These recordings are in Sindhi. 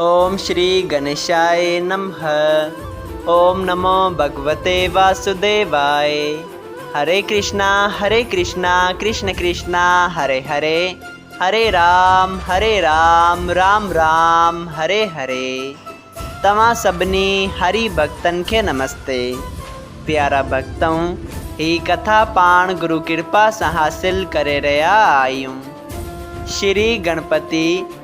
اوم شري گنيشائي نمه اوم نمو ڀڳوتي واسوديواي هري ڪرشنا هري ڪرشنا ڪرشن ڪرشنا هري هري هري رام هري رام رام رام هري هري توهان سڀني هري ڀڳتن کي نمستي پيارا ڀڳتؤن هي ڪٿا پاڻ گرو ڪرپا سان حاصل ڪري رهيا آهيون شري گڻپتي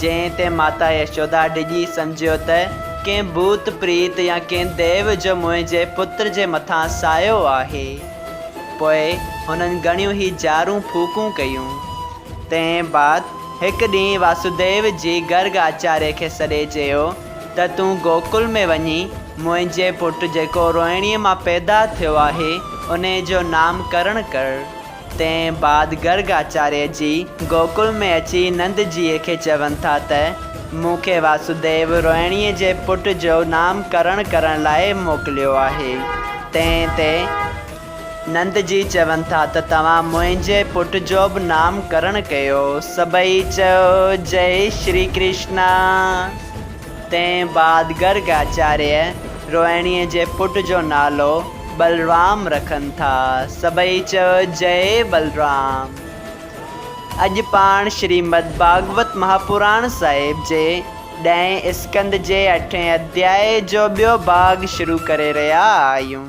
جنهن تي ماتا يشودا ڊڄي سمجهيو ته ڪنهن ڀوت پريت يا ڪنهن ديو جو منهنجي پتر جي مٿان سايو آهي. پوء هنن گهڻيون هي جارون ڦوڪون ڪيون. تنهن بعد هڪ ڏينهن واسوديو جي گرگ آچاريه کي سڏي چيو ته تون گوڪل ۾ وڃي منهنجي پٽ جيڪو روهڻيء مان پيدا ٿيو آهي انهي جو نام ڪرڻ ڪر. تنهن بعد گرگ آچاريه جي گوڪل ۾ اچي نند جيء کي چون ٿا ته، مون کي واسوديو روهڻيء جي پٽ جو نام ڪرڻ ڪرڻ لاء موڪليو آهي. تنهن تي نند جي چون ٿا ته، توهان منهنجي پٽ جو به نام ڪرڻ ڪيو. سڀئي چيو، جئي شري ڪرشنا! تنهن بعد گرگ آچاريه روهڻيء جي پٽ جو نالو بلرام رکن ٿا. سڀئي چيو جئي بلرام. اڄ پاڻ شريمد ڀاڳوت مهاپراڻ صاحب جي ڏهين اسڪند جي اٺين اڌيائي جو ٻيو ڀاڳ شروع ڪري رهيا آهيون.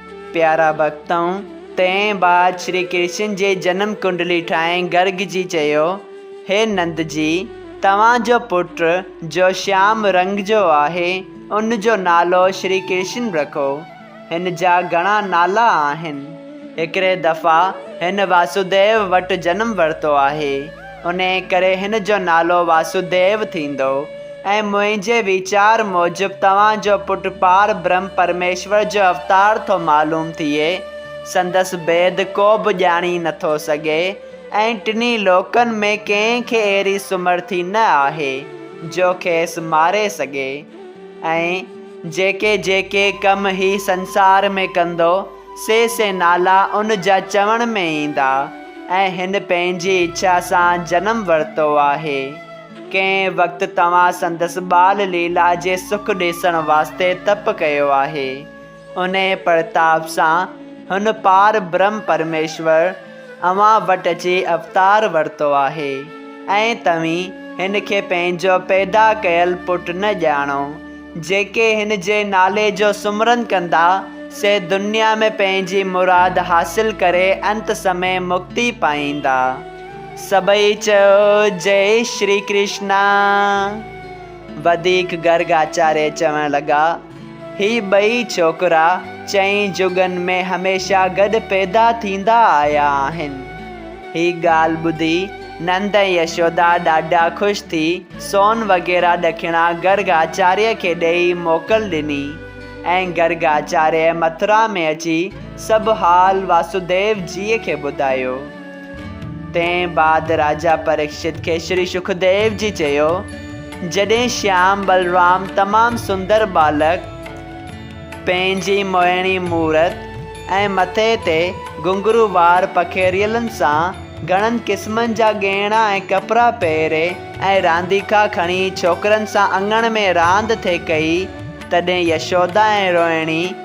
پيارا ڀڳتؤن! تنهن بعد شري ڪرشن جي جنم ڪنڊلي ٺاهي گرگ جي چيو، هي نند جي! توهان جو پٽ جو شيام رنگ جو آهي، ان جو نالو شري ڪرشن رکو. هن جا گهڻا نالا آهن. هڪڙي دفعا هن واسوديو وٽ جنم ورتو آهي. انهيء ڪري هن جو نالو واسوديو ٿيندو ۽ منهنجي ويچار موجب توهان جو پٽ پار برهم پرميشور جو اوتار ٿو معلوم ٿئي. سندس ڀيد ڪو به ڄاڻي نه ٿو سگهي ۽ ٽنهي لوڪن ۾ ڪنهن کي اهڙي سمرٿي نه آهي جو کيس ماري سگهي ۽ جيڪي جيڪي ڪم هي سنسار ۾ ڪندو، سي سي نالا ان جا چوڻ ۾ ايندا ۽ هن پنهنجي اڇا سان جنم ورتو آهي. ڪنهن وقت توهان سندس ٻال ليلا جي سک ڏيسڻ واسطي تپ ڪيو آهي. انهيء پرتاپ سان هن پار برهم پرميشور، اوهان وٽ اچي اوتار ورتو آهي ۽ توهين هن کي پنهنجو پيدا ڪيل پٽ نه ڄاڻو. جيڪي هن جي نالي جو سمرن ڪندا، سي دنيا ۾ پنهنجي مراد حاصل ڪري انت سمي مڪتي پائيندا. سڀئي چيو جئي شري ڪرشنا. وڌيڪ گرگ آچاريه چوڻ لڳا. هي ٻئي ڇوڪرا چئين جڳن ۾ هميشه گڏ پيدا ٿيندا آيا آهن. هي ڳالهه ٻڌي نند ۽ يشودا ڏاڍا خوش ٿي سون وغيره ڏکڻا گرگ آچاريه کي ڏيئي موڪل ڏني ۽ گرگ آچاريه مٿرا ۾ اچي سڀ حال واسوديو جيء کي ٻڌايو. تنهن بعد راجا پريڪشت کي شري شڪديو جي چيو، جڏهن شيام بلرام تمام سندر ٻالڪ پنهنجي موهڻي مورت ۽ مٿي تي گهنگرو وار پکيريلن سان گهڻن قسمن جا ڳهڻا ۽ ڪپڙا پهري ۽ رانديڪا کڻي ڇوڪرن سان اڱڻ ۾ راند ٿي ڪئي، تڏهن يشودا ۽ روهڻي،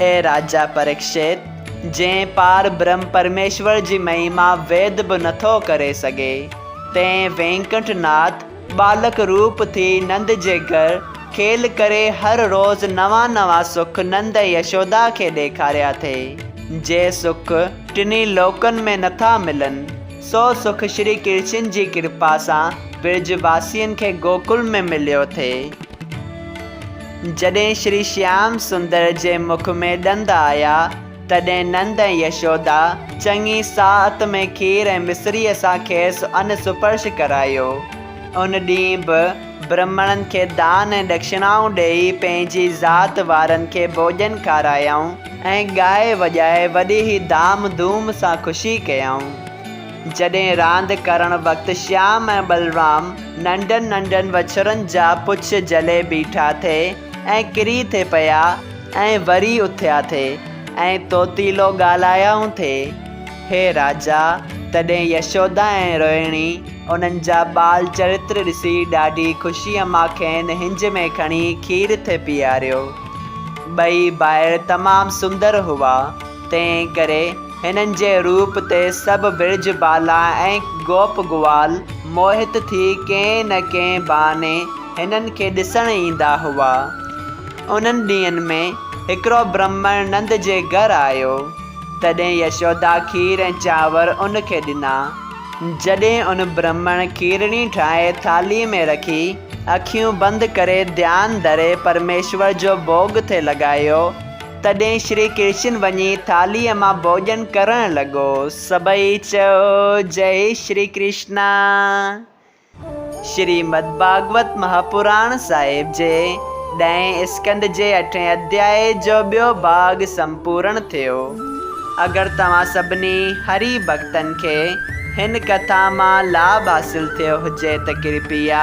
اي راجا پريڪشت، جنهن پار برهم پرميشور جي مهيما ويد به نٿو ڪري سگهي، تنهن وينڪنٺ ناٿ ٻالڪ روپ ٿي نند جي گهر کيل ڪري هر روز نوان نوان سک نند ۽ يشودا کي ڏيکاريا ٿئي، جي سک ٽنهي لوڪن ۾ نٿا ملن، سو سک شري ڪرشن جي ڪرپا سان برج واسين کي گوڪل ۾ مليو ٿئي. جڏهن شري شيام سندر جي مک ۾ ڏند آيا، تڏهن نند ۽ يشودا چڱي ساعت ۾ کير ۽ مصريء سان کيس ان سپرش ڪرايو. ان ڏينهن به برهمڻن کي دان ۽ ڏکشڻائون ڏيئي پنهنجي ذات وارن کي ڀوڄن کارايائون ۽ ڳائي وڄائي وڏي ئي ڌام ڌوم سان خوشي ڪيائون. جڏهن راند ڪرڻ وقت شيام ۽ بلرام ننڍن ننڍن وڇرن جا پڇ جلي بيٺا ٿي ۽ ڪري ٿي پيا ۽ وري اٿيا ٿي ۽ طوطيلو ڳالهايائون ٿي، هي راجا! تڏهن يشودا ۽ روهڻي انهن جا ٻال چرتر ڏسي ڏاڍي خوشيء مان کين هنج ۾ کڻي کير ٿي پيئاريو. ٻئي ڀائر تمام سندر هئا، تنهن ڪري. هنن جي روپ تي سڀ برج بالا ۽ گوپ گوال موهت ٿي ڪنهن نه ڪنهن بهاني هنن کي ڏسڻ ايندا هئا. انهن ڏينهن ۾ هڪڙو برهمڻ نند جي گهر آيو، تڏهن يشودا کير ۽ چانور ان کي ڏنا. جڏهن ان برهمڻ کيرڻي ٺاهي ٿالهي ۾ رکي، اکيون بند ڪري ڌيان ڌري پرميشور جو ڀوڳ ٿي لڳايو، تڏهن شري ڪرشن وڃي ٿالهيء مان ڀوڄن ڪرڻ لڳو. سڀئي چئو، جئي شري ڪرشنا. شريمد ڀاڳوت مهاپراڻ صاحب جي ڏهين اسڪنڌ جي اٺين اڌياء جو ٻيو ڀاڳ سمپورڻ ٿيو. اگر توهان سڀني هري ڀڳتن کي هن ڪٿا مان لاڀ حاصل ٿيو هجي ته ڪرپيا